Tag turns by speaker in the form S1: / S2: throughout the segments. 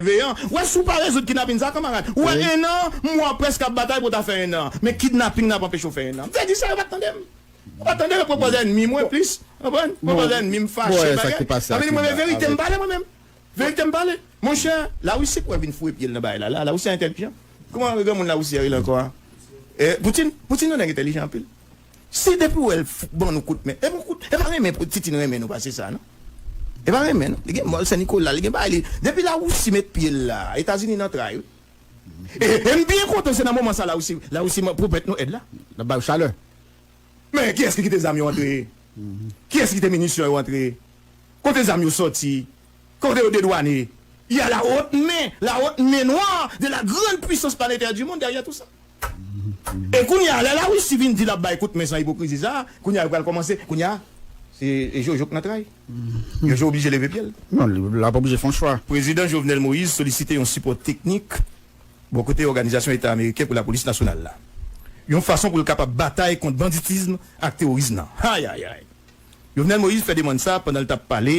S1: Veyan, wè si w pa rezoud kidnapin sa kanmarad. Ou wè 1 an, mwa prèske ap batay pou ta fè 1 an. Men kidnaping nan ap anpeche w fè 1 an. M fè di sa yo pa t tande m. Yo pa t tande m, yo pran pòz ènmi mwen plis. Konprann? Pran pòz ènmi m, fache, bagay. Ap vin di mwen
S2: men verite m pale
S1: mwen menm. Verite m pale. Monchè, Lawisi pou wè vin foure pye l nan bagay la la a. Lawisi a entèlijan. Kouman granmoun Lawisi a rele ankò a? Poutin? Poutin yon nèg entèlijan anpil. Se depi wè l fout ban nou kout men. E pa renmen pou Titine renmen nou pase sa non. E pa renmen non. Li gen mòl Sen Nikola, li gen bagay li. Depi Lawousi met pye l la, Etazini nan tray wi. E m byen kontan se nan moman sa Lawousi pwomèt nou èd la. L ap ba yo chalè.
S2: Men
S1: kiyès ki kite zam yo antre? Kiyès ki kite minisyon yo antre? Kote zam yo sòti? Kote yo dedwane? Y a la haute main, la haute main noire de la grande puissance planétaire du monde derrière tout ça. E kounye a, lè la Russie vin di l ap bay kout men san ipokrizi sa a, kounye a yo pral kòmanse, kounye a, se jojo k nan tray. Jojo oblije leve pye l. Non, l ap oblije
S2: fè yon chwa. Prezidan Jovenel Moïse
S1: solisite yon sipò teknik bò kote Òganizasyon Eta Ameriken pou Lapolis Nasyonal la, yon fason pou l kapab batay kont banditizm ak teworism nan. Ayayay! Jovenel Moïse fè demann sa a pandan l t ap pale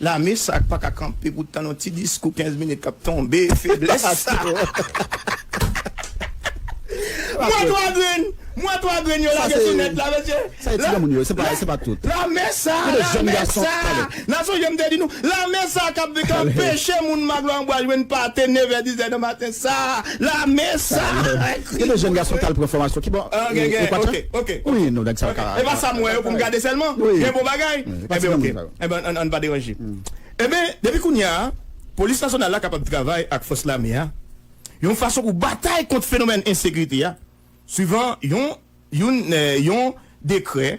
S1: Lame sa k paka kanpe pou tann yon ti diskou 15 minit k ap tonbe feblès sa Mwen 3 grenn Mwen 3 grenn yo lage sou nèt
S2: la mesye Lame sa
S1: Lame sa Nan sonje m te di nou Lame sa k ap anpeche moun maglo anbwa jwenn pate nevè dizè nan maten sa Lame sa Gen de
S2: jèn gason k al pran fòmasyon ki bò Epa sa m wè yo pou m gade
S1: sèlman Gen bon bagay. Pati nan moun sa yo. Enben, ann pa deranje. Enben, depi kounye a, Polis Nasyonal la kapab travay ak Fòs Lame a yon fason pou batay kont fenomèn ensekirite a, swivan yon youn yon dekrè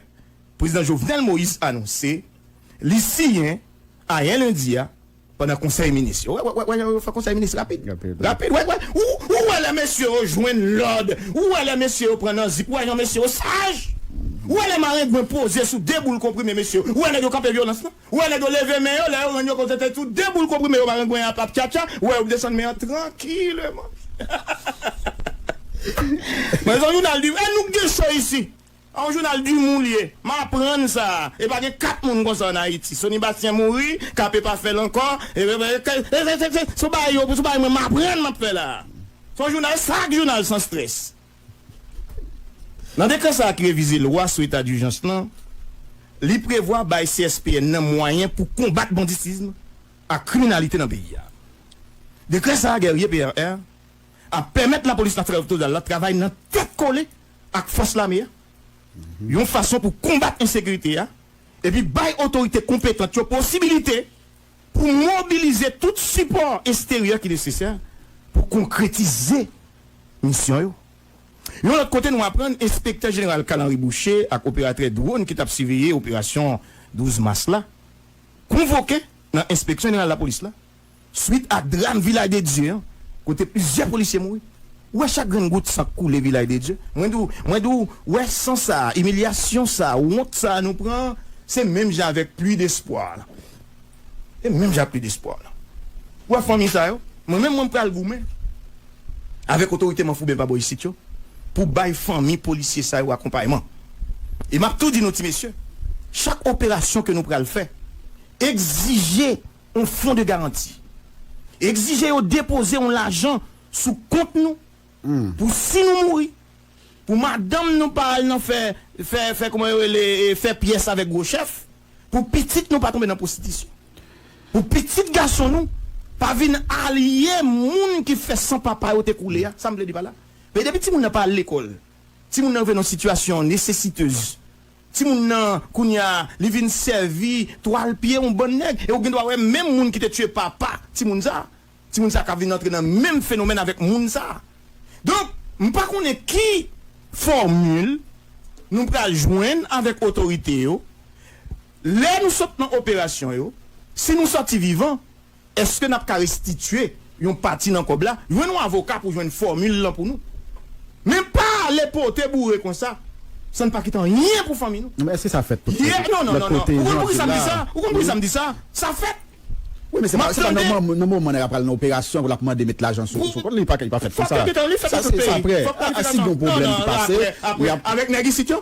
S1: Prezidan Jovenel Moïse anonse li siyen ayè lendi a. Pandan konsèy minis yo. Wè, wè, wè, yo fè konsèy minis rapid. Rapid. Rapid, wè, wè. Ou, ou wè lè mesye yo jwenn lòd. Ou wè lè mesye yo pran nan zip. Ou wè jan mesye yo saj. Ou wè lè marengwen poze sou de boul konprime mesye yo. Ou wè nèg yo kanpe vyolans lan. Ou wè nèg yo leve men yo lè yo rann yo kont se sou de boul konprime yo marengwen an ap tchatcha. Ou wè yo ap desann men an trankileman. Mezanmi, jounal di, e nou k gen cho isi? Yon jounal d'humour li ye. M aprann sa, e pa gen 4 moun konsa an Ayiti. Sony Bastien mouri, KP pa fè l ankò, e e e ke e se se se sou bagay yo, sou bagay mwen m aprann m ap fè la. Se yon jounal sak jounal san stress. Nan dekrè sa a ki revize lwa sou eta dijans lan, li prevwa bay CSPN nan mwayen pou konbat banditism ak kriminalite nan peyi a. Dekrè sa a Guerrier PRR ap pèmèt lapolis natirèl oktozal la travay nan tèt kole ak fòs lame a yon fason pou konbat ensekirite a epi bay otorite konpetant yo posibilite pou mobilize tout sipò esteryè ki nesesè pou konkretize misyon yo. Yon lòt kote nou aprann enspektè jeneral Carl Henry Bouché ak operatrè dwon ki t ap siveye operasyon 12 mas la konvoke nan enspeksyon jeneral lapolis la Swit ak dram Vilay de Dye an kote plizyè polisye mouri, wè chak grenn gout san k koule Vilay de Dye, mwen di w, mwen di w, wè san sa a, imilyasyon sa a, wont sa a nou pran an, se menm jan avèk pli despwa a lan. Se menm jan ak pli despwa a lan. Ou wè fanmi sa yo? Mwen menm, mwen m pral goumen avèk otorite manfouben pa bò isit yo pou bay fanmi polisye sa yo akonpayman. E m ap tou di nou ti mesye, chak operasyon ke nou pral fè egzije On fon de garanti. Egzije yo depoze on lajan sou kont nou pou si nou mouri, pou madanm nou pa al nan fè, fè, fè kouman yo rele e, fè pyès avèk gwo chèf, pou pitit nou pa tonbe nan pwostitisyon, pou pitit gason nou pa vin alye moun ki fè san papa yo te koule a. Sa m vle di pa la? Paske depi timoun nan pa al lekòl, timoun nan rive nan sitiyasyon nesesitez, Timoun nan kounye a li vin sèvi twal pye yon bann nèg e ou gendwa wè menm moun ki te tiye papa timoun sa, timoun sa ka vin antre nan menm fenomèn avèk moun sa. Donk m pa konnen ki fòmil nou pral jwenn avèk otorite yo lè nou sot nan operasyon yo, si nou sòti vivan. Eske nap ka restitye yon pati nan kòb la? Jwenn yon avoka pou jwenn fòmil lan pou nou. Men pa ale pote boure konsa san pa kite anyen pou fanmi nou. Non men eske sa fèt tout kote?
S2: Non non non non ou konn
S1: poukisa m di sa? Ou konn poukisa m di sa? Sa fèt. Wi men
S2: se pa nan moman nèg ap pral nan operasyon pou lap mande met lajan sou kont li pa fèt konsa. Sa se aprè. Si gen yon pwoblèm ki pase. Aprè avèk nèg isit yo?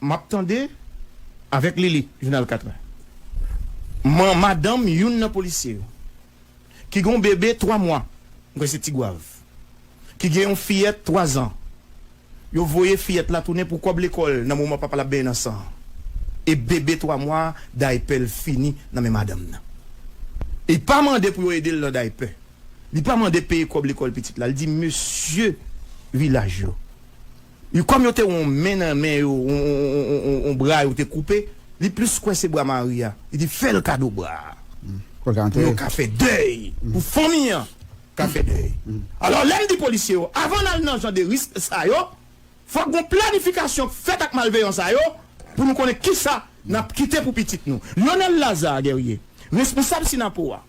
S1: Map tande avek Lili jounal 4 a man madanm youn nan polisye yo ki gon bebe 3 mwa m kwè se tigwav ki gen yon fiyèt 3 zan yo voye fiyèt la tounen pou kòb lekòl nan moman papal ap benyen nan san e bebe 3 mwa daypèl fini nan men madanm nan li pa mande pou yo edel nan daypè li pa mande peye kòb lekòl pitit la li di mesye vilaj yo. Yo kòm yo te yon men nan men yo yon bra yo te koupe li plis kwense bra mari a li di fèl kado bra a pou yo ka fè dèy pou fanmi an ka fè dèy alò lèm di polisye yo avan nal nan jan de risk sa yo fòk gon planifikasyon k fèt ak malveyan sa yo pou nou konnen kisa nap kite pou pitit nou. Lyonel Lazarre Guerrier responsab Synapoha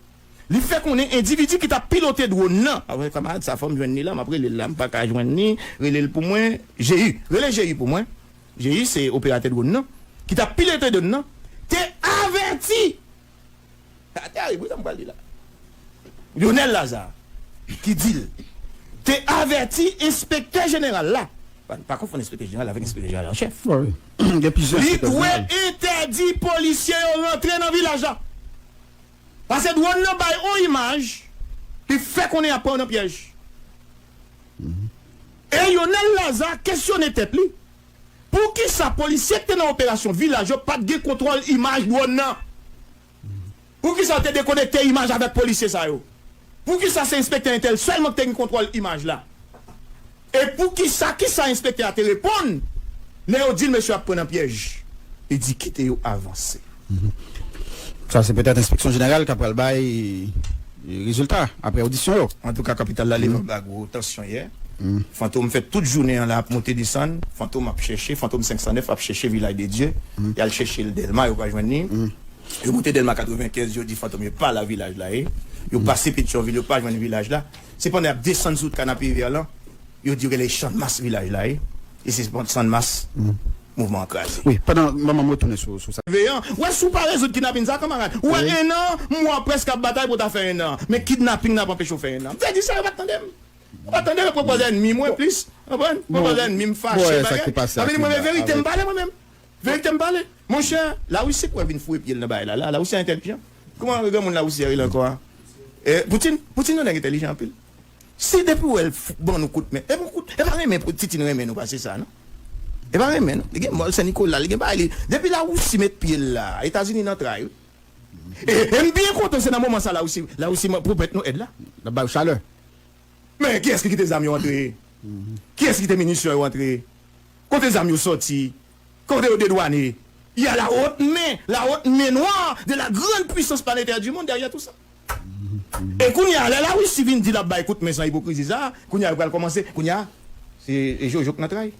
S1: Li fè konnen endividi ki tap pilote dwòn nan. Avwe kamarad sa fòm jwenn li la map relel la mpaka jwenn li relel pou mwen Jeyi rele Jeyi pou mwen Jeyi se operatè dwòn nan ki tap pilote dwòn nan te avèti sa tèrib wi sa mpral di la Lyonel Lazarre ki dil te avèti enspektè jeneral la bann pa konfonn enspektè jeneral avèk enspektè jeneral an chèf
S2: li dwe entèdi
S1: polisye yo rantre nan vilaj la. Pase drone nan bay on imaj li fè konnen yap pran w nan pyèj. E Yonel Lazarre kesyone tèt li poukisa polisye ki te nan operasyon vilaj yo pat gen kontwòl imaj drone nan? Poukisa yo te dekonekte imaj avèk polisye sa yo? Poukisa se enspektè entèl sèlman ki te gen kontwòl imaj la? E poukisa kisa enspektè a te reponn lè yo di l mesye ap pran nan pyèj? Li di kite yo avanse.
S2: Sa se petèt enspeksyon jeneral ka pral bay rezilta aprè odisyon yo. Antouka kapital la
S1: leve anba gwo tansyon yè. Fantom fè tout jounen an la ap monte desann. Fantom ap chèche, Fantom 509 ap chèche Vilay de Dye. Y al chèche l Dèlma yo pa jwenn li. Yo moute Dèlma 95, yo di Fantom yo pa la Vilaj la ye. Yo pase Petyonvil, yo pa jwenn Vilaj la. Se pandan y ap desann sou wout Kanapevè lan, yo di yo rele Channmas Vilaj la ye. E se pandan Channmas mouvman an kraze. Wi, pandan, m ban m
S2: retounen sou sa. Veyan, wè si w pa rezoud
S1: kidnapin sa, kanmarad. Ou wè ennan mwa prèske ap batay pou w ta fè ennan. Men kidnaping nan ap anpeche w fè ennan. M te di sa, yo pa t tande m. Yo pa t tande m, yo pran pòz ènmi mwen plis. Konprann? Pran pòz ènmi m fache bagay. Ap vini mwen
S2: men verite m pale
S1: mwen menm. Verite m pale monchè la Russie kwè vin foure pyel nan bagay la la la Russie an entèlijan kman granmoun la Russie a rele ankò a Poutine Poutine yon nèg entèlijan anpil si depiw wèl ban nou kout men ebon kout epa renmen Titine renmen nou pase sa non epa renmen non li gen mòl sen Nicolas li gen bagay li depi la Russie met pyel la etazini nan tray wi em byen kontan se nan moman sa la Russie la Russie man pwopèt nou èd la lap bay yo chalè
S2: men
S1: kiyès ki kite zam yo antre kiyès ki kite minisyon yo antre Kote zam yo sòti? Kote yo dedwane? Y a la haute main, la haute main noire de la grande puissance planétaire du monde derrière tout ça. E kounye a, lè Larisi vin di l ap bay kout men san ipokrizi sa a, kounye a yo pral kòmanse, kounye a, se jojo k nan tray.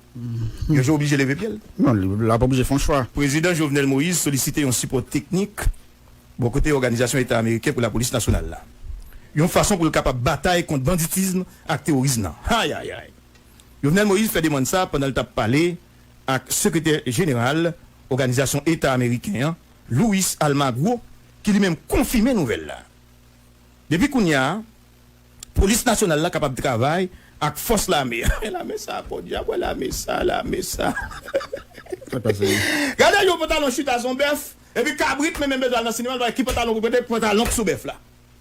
S1: Jojo oblije leve pye l. Non, l ap oblije
S2: fè yon chwa. Prezidan Jovenel Moïse
S1: solisite yon sipò teknik bò kote Òganizasyon Eta Ameriken pou Lapolis Nasyonal la, yon fason pou l kapab batay kont banditism ak teworism nan. Ayayay! Jovenel Moïse fè demann sa pandan l t ap pale ak sekretè jeneral Oganizasyon Eta Ameriken an, Luis Almagro, ki li menm konfime nouvèl la. Depi kounya, polis nasyonal la kapab travay ak fòs lame a. Men lame sa podyab wè lame sa lame sa. Gade yon pantalon chita son bèf epi kabrit menm menm bezwen al nan sinema l pa wè ki pantalon pou l mete pantalon k sou bèf la.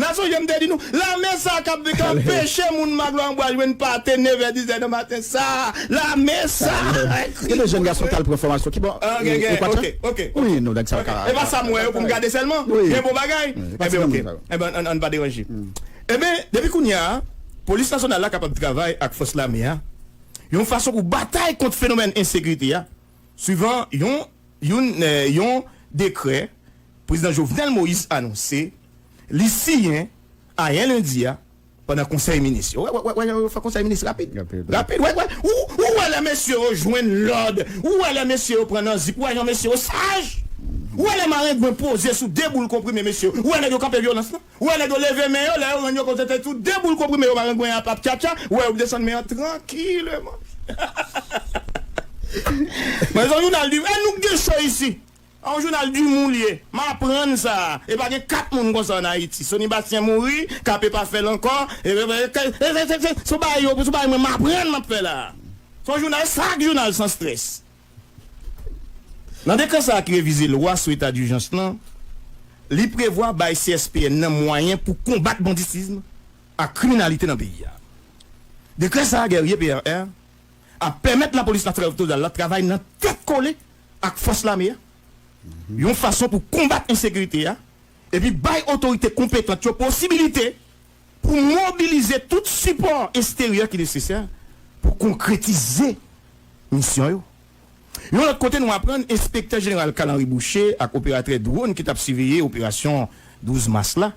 S1: Na sonje m te di nou, lame sa kap vin k ap peche moun Maglo an bwa jwenn pate nevè dizè nan maten sa a, lame sa a ki Gen de
S2: jèn gason k al pran fòmasyon ki bò Ekwatè
S1: Wi nou nèg sa yo
S2: ka E pa sa m wè yo pou m gade
S1: sèlman Gen bon bagay Enben ok Enben ann pa deranje Enben depi kounye a Polis Nasyonal la kapab travay ak fòs lame a yon fason pou batay kont fenomèn ensekrite a. Swivan yon yon yon dekrè Prezidan Jovenel Moïse anonse li siyen ayè lendi a pandan konsèy minis yo. Wè wè wè jan yo fè konsèy minis rapid. Rapid wè wè ou ou wè lè mesye yo jwenn lòd, ou wè lè mesye yo pran nan zip, ou wè jan mesye yo saj, ou wè lè marengwen poze sou 2 boul konprime mesye yo, ou wè nèg yo kanpe vyolans lan. Ou wè nèg yo leve men yo, lè yo rann yo kont se te sou de boul konprime yo marengwen ap ap tchatcha, ou wè yo desann men an trankileman. Mwen se yon jounal d'humour, e nou k gen cho isi! Yon jounal d'humour li ye. M aprann sa, e pa gen 4 moun konsa an Ayiti. Sony Bastien mouri, KP pa fè l ankò, e se se se se se sou bagay yo, sou bagay mwen m aprann m ap fè la a. Se yon jounal, sak jounal san stress? Nan dekrè sa a ki revize lwa sou eta dijans lan, li prevwa bay CSPN nan mwayen pou konbat banditism ak kriminalite nan peyi a. Dekrè sa a, Guerrier PRR, ap pèmèt lapolis natiralotodal la travay nan tèt kole ak fòs lame a yon fason pou konbat ensekirite a epi bay otorite konpetant yo posibilite pou mobilize tout sipò esteryè ki nesesè pou konkretize misyon yo. Yon lòt kote, nou aprann enspektè jeneral Carl Henry Boucher ak operatrè dwon ki t ap siveye operasyon 12 mas la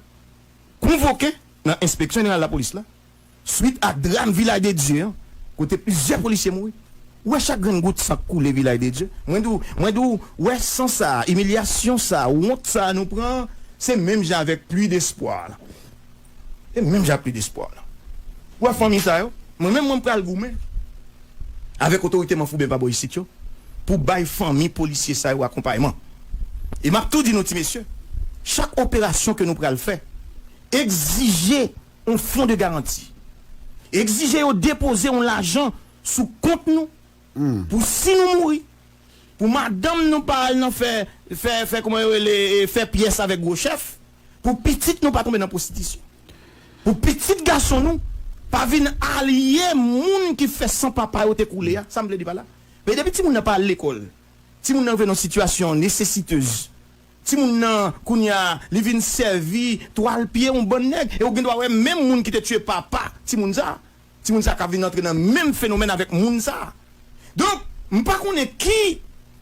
S1: konvoke nan enspeksyon jeneral lapolis la swit ak dram Vilay de Dye an kote plizyè polisye mouri. Ou wè chak grenn gout san k koule Vilay de Dye? Mwen di w, mwen di w, wè san sa a, imilyasyon sa a, wont sa a nou pran an, se menm jan avèk pli despwa a. E menm jan ak Ludespoir la. Ou wè fanmi sa yo? Mwen menm, mwen pral goumen avèk otorite manfouben pa bò isit yo pou bay fanmi polisye sa yo akonpayman. E m ap tou di nou ti mesye, chak operasyon ke nou pral fè, egzije yon fon de garanti. Egzije yo depoze yon lajan sou kont nou pou si nou mouri, pou madanm nou pa al nan fè, fè, fè kouman yo rele, fè pyès avèk gwo chèf. pou pitit nou pa tonbe nan pwostitisyon, pou pitit gason nou pa vin alye moun ki fè san papa yo te koule a. Sa m vle di pa la, men depi timoun nan pa al lekòl, timoun nan rive nan sitiyasyon nesesitez, timoun nan kounye a li vin sèvi twal pye yon bann nèg, e ou gen dwa wè menm moun ki te tiye papa timoun sa a, Timoun sa ka vin antre nan menm fenomèn avèk moun sa. Donk, m pa konnen ki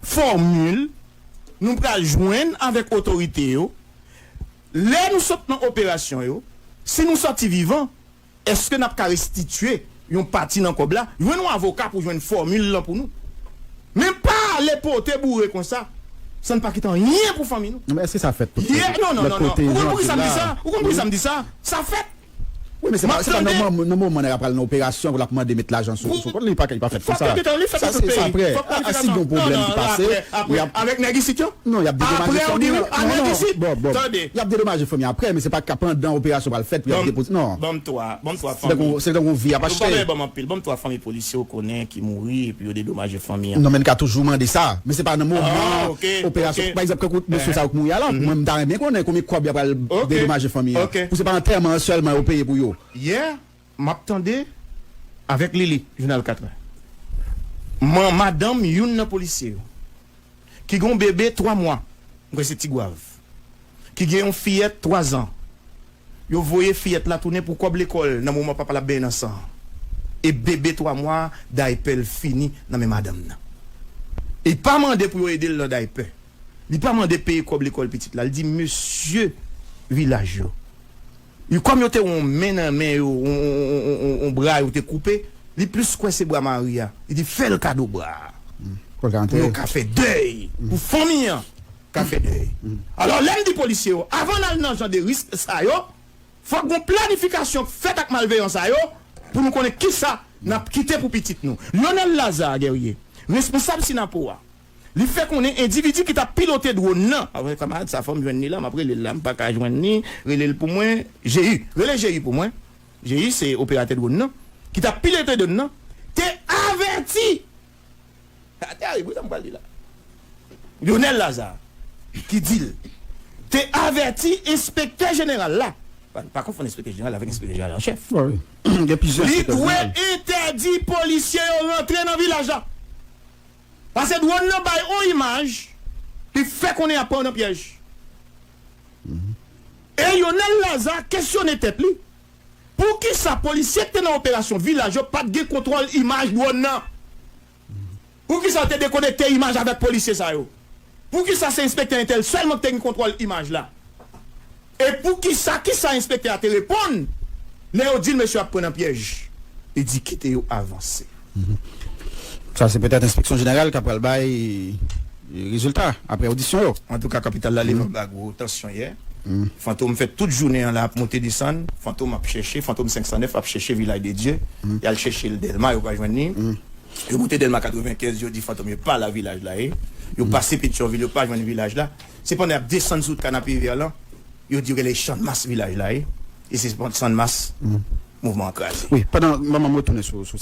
S1: fòmil nou pral jwenn avèk otorite yo lè nou sot nan operasyon yo. Si nou sòti vivan, èske n ap ka restitye yon pati nan kòb la? Jwenn yon avoka pou jwenn fòmil lan pou nou. Men pa ale pote boure konsa san n pa kite anyen pou fanmi nou. Non men èske sa fèt tout kote? Yè,
S2: non, non, non, non. Ou konn
S1: poukisa m di sa? Ou konn poukisa m di sa? Sa fèt. Wi men se
S2: pa nan moman nèg la pral nan operasyon pou lap mande met lajan sou kont li pa fèt konsa sa se aprè a si gon pwoblèm ki pase avèk nèg isit yo
S1: non yap dedomaje
S2: fanmi an non non
S1: yap dedomaje fanmi an
S2: aprè men se pa pandan operasyon pral fèt pou yap depoze non
S1: se tankou yon vi yap achte. Si ou konnen ki mouri epi yo dedomaje fanmi an. Non men n ka toujou mande sa
S2: men se pa nan moman operasyon pa egzanp kèk mesye sa yo k mouri a la mwen m ta renmen konnen konbyen kòb y a pral dedomaje fanmi an pou se pa antèman an sèlman yo peye pou yo. Yè m ap
S1: tande avèk Lili jounal 4 è man madanm youn nan polisye yo. ki gen yon bebe 3 mwa, m kwè se Tigwav, ki gen yon fiyèt 3 zan, yo voye fiyèt la tounen pou kòb lekòl nan moman papa l ap benyen nan san an. E bebe 3 mwa a, daypè l fini nan men madanm nan. Li pa mande pou yo ede l nan daypè. Li pa mande peye kòb lekòl pitit la. Li di mesye vilaj yo. Yo kòm yo te yon men nan men yo yon bra yo te koupe li plis kwense bra mari a li di fèl kado bra a pou
S2: yo ka fè dèy
S1: pou fanmi an ka fè dèy alò lèm di polisye yo avan nal nan jan de risk sa yo fòk gon planifikasyon k fèt ak malveyan sa yo pou nou konnen kisa nap kite pou pitit nou. Lyonel Lazarre Guerrier responsab Synapoha. Li fè konnen endividi ki tap pilote dwòn nan. Avwe kamarad sa fòm jwenn li la map relel la mpaka jwenn li relel pou mwen Jeyy rele Jeyy pou mwen Jeyy se operatè dwòn nan ki tap pilote dwòn nan te avèti sa tèrib wi sa m pral li la Lyonel Lazarre ki dil te avèti enspektè jeneral la pa konfonn enspektè jeneral la avèk enspektè jeneral an chèf li
S2: dwe
S1: entèdi polisye yo rantre nan vilaj la. Pase drone nan bay on imaj li fè konnen yap pran w nan pyèj. E Yonel Laza kesyone tèt li poukisa polisye ki te nan operasyon vilaj yo pat gen kontwòl imaj drone nan? Poukisa yo te dekonekte imaj avèk polisye sa yo? Poukisa se enspektè entèl sèlman ki te gen kontwòl imaj la? E poukisa, kisa enspektè a te reponn lè yo di l mesye yo ap pran nan pyèj? Li di kite yo avanse.
S2: Sa se petèt enspeksyon jeneral ka pral bay rezilta apre odisyon yo. Antouka kapital la leve
S1: anba gwo tansyon yè. Fantom fè tout jounen an la ap monte desann. Fantom ap chèche, Fantom 509 ap chèche Vilaj de Dye. Y al chèche l Dèlma, yo pa jwenn li. Yo monte Dèlma 95, yo di Fantom yo pa la Vilaj la ye. Yo pase Petyonvil, yo pa jwenn Vilaj la. Se pandan y ap desann sou Canapé-Vert lan, yo di yo gen lè Channmas vilaj la ye,
S2: e se Channmas mouvman
S1: an kraze.
S2: Wi,
S1: pandan
S2: manman
S1: m retounen
S2: sou
S1: sa.